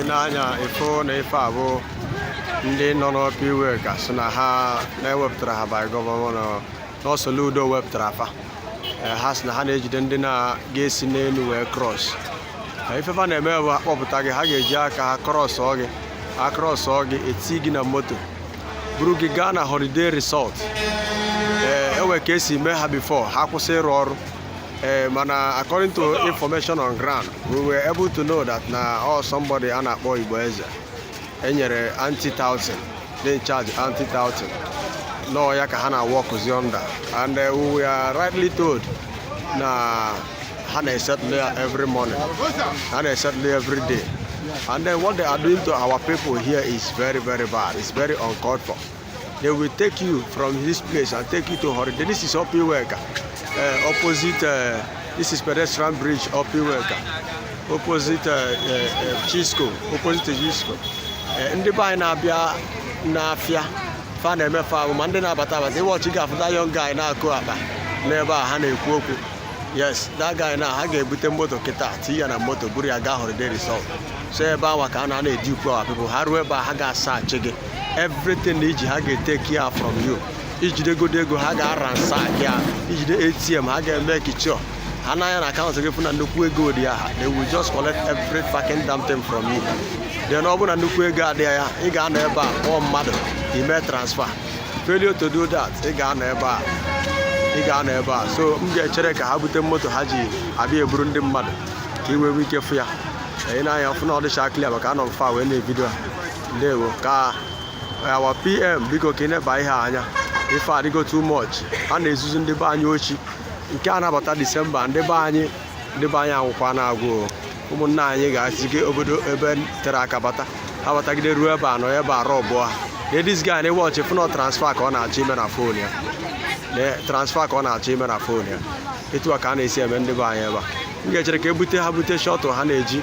i nee anya ị fụ na ife a bụ ndị nọ n'Upper Iweka sị na ha na e wepụtara ha by gọvanọ na Soludo wepụtara fa Eh, ha sị na ha na-ejide ndị na-ga-esi n'elu wee cross Eh, ife fa na-eme bụ ha kpọpụta gị ha ga-eji aka ha krọsọ gị ha krọsọ gị e tii gị na moto buru gị gaa na holiday resort ee e nwee ka e si mee ha before ha kwụsị ịrụ ọrụ ee mana according to information on ground we were able to know that na ọ somebody a na-akpọ Igbo Eze e nyere anti-touting dị in charge anti-touting na ọ ya ka ha na-aworkụzi under and eh, we were rightly told na ha na-esettle ya every morning ha na-esettle ya every day and then what they are doing to our people here is very very bad it's very uncalled for They will take you from this place and take you to Holiday. This is Upper Iweka, uh, opposite, uh, this is pedestrian bridge, Upper Iweka, opposite uh, uh, Chisco, opposite Chisco. Uh, ndị be anyị na-abịa n'afịa fa na-eme fa ahụ ma ndị na-abata abata ị watch ị ga-afụ that young guy na-akụ akpa n'ebe a ha na-ekwu okwu yes that guy now ha ga-ebute moto kịta tinye ya na moto buru ya gaa Holiday Resort so ebe awa ka a na-ana-edi ukwu our people ha ruo ebe a ha ga-asearchi gị everything i ji ha ga-etake ya from you i jidegodu ego ha ga-aransack ya i jide ATM ha ga-emake sure ha nee anya na akaụntụ gị fụ na nnukwu ego dị ya ha they will just collect every fucking damn thing from you then ọ bụrụ na nnukwu ego adịghị ya ị ga-anọ ebe a kpọọ mmadụ ime transfer failure to do that ị ga-anọ ebe a ị ga-anọ ebe a so m ga-echere ka ha bute moto ha ji abịa eburu ndị mmadụ ka i wee nwee ike fụ ya anya i nee anya fụ na ọ dịcha clear maka anọ m far wee na-evideo ha ndewo ka our PM biko ka ị neba ihe anya ife adịgo too much ha na-ezuzu ndị be anyị oshi nke a na-abata disemba ndị be anyị ndị be anyị anwụkwa na agwụ ụmụnna anyị ga-esigo obodo ebe tere aka bata ha batagide ruo ebe a nọ ebe a robụọ ha this guy now ị watch ị fụ na ọ transfer ka ọ na-achọ ime na phone ya transfer ka ọ na-achọ ime na phone ya etu a ka a na-esi eme ndị be anyị ebe a m ga-echere ka e bute ha bute shuttle ha na-eji